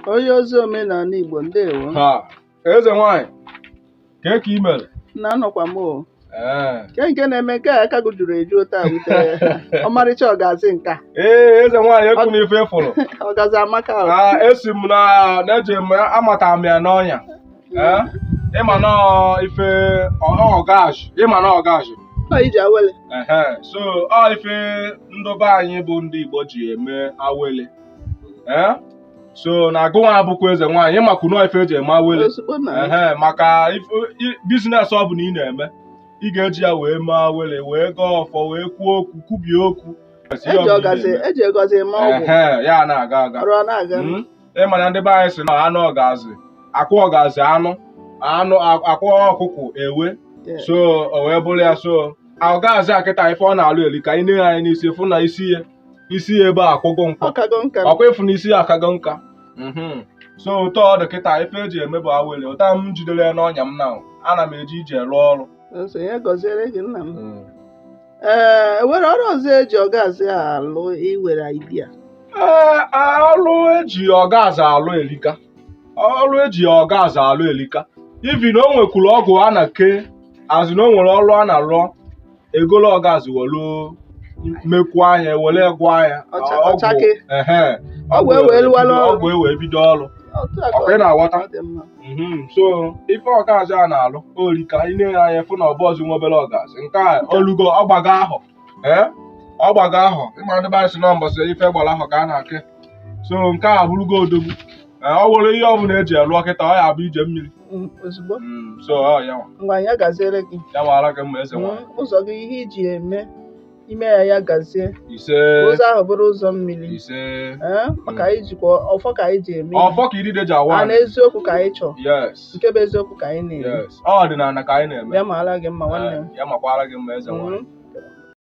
onye ozi omenala Igbo ndewo ha eze nwanyị kee ka i mere na anọkwa m o ee kee nke na-eme nke a aka gị juru eju otu a wute ọmarịcha ọgazi nka ee eze nwanyị ekwuna ife ị fụrụ ọgazi amaka o. na esi m na na-eji m amata m ya n'ọnya ee ịma na ọ ife ọgazi ịma na ọgazi Ọ ije awele ehe so ọ ife ndị be anyị bụ ndị Igbo ji eme awele Eh? so na agụnwa abụkwa eze nwaanyị ịmakwu na ọ ife eji eme awele Ozugbo na ehe maka ife- i- biznes ọ bụla ị na-eme ị ga-eji ya wee mee awele wee gọọ ọfọ wee kwuo okwu kwubie okwu Kwesịrị ihe eji ọbụla ị ọgazi na-eme. eji ọgazi eme ọgwụ Ehe, ya na-aga aga ọrụ ọ na-aga Mm. ị ma na ndị be anyị sị na anụ ọgazi akwụ ọgazi anụ anụ a- akwụ ọkụkụ ewe Yeah. so o wee bụrụ ya so ọgazi a kịta ife ọ na-alụ erika ị na-ene anya n'isi fụ na isi ya isi ya ebe a akwụgo nkọ ọkago nka ọkwa ịfụ na isi ya akago nka Mhm. so otu ọ dị kịta ife eji eme bụ awele otu a m jidere ya n'ọnya m na ana m eje iji ya rụọ ọrụ so ya gaziere gị nna m e nwere ọrụ ọzọ eji ọgazi alụ i nwere idea ee ọrụ eji ọgazi alụ elika ọrụ eji ọgazi alụ elika even na o nwekwuru ọgwụ a na-eke a sị na o nwere ọrụ a na-alụ egolo ọgazi welu mekwu ahịa were gwọ ahịa Ọcha- ọgwụ- ọchake. ehe, Ọgwụ ewee lụwalụ ọrụ. ọgwụ ewee bido ọrụ Otu a ka ọkwa ị na-aghọta ọ dị mma. Mhm, so ife ọgazi a na-alụ erika ị na-ene anya fụ na ọ bụzi nwa obere ọgazi nke a olugo ọgbago ahụ ee ọgbago ahụ ịma ndị be anyị sị na mbọsị ife gbara ahụ ka a na-ake so nke a bụrụgo odogwu Ee, ọ nwere ihe ọbụla eji alụ kịta ọ ya bụ ije mmiri Mm, ozugbo Mm, so ọ ya nwa. ngwa ya gaziere gị ya mara gị mma eze nwanyị Mm, ụzọ gị ihe i ji eme i mee ya ya gazie ise ka ụzọ ahụ bụrụ ụzọ mmiri ise Eh, maka anyị jikwa ọfọ ka anyị ji eme ihe. ọfọ ka idide ji awa ana eziokwu ka anyị chọọ yes nke bụ eziokwu ka anyị na-eme yes ọ ọdịnala ka anyị na-eme ya maara gị mma nwanne m Eh, ya makwara gị mma eze nwanyị Mm.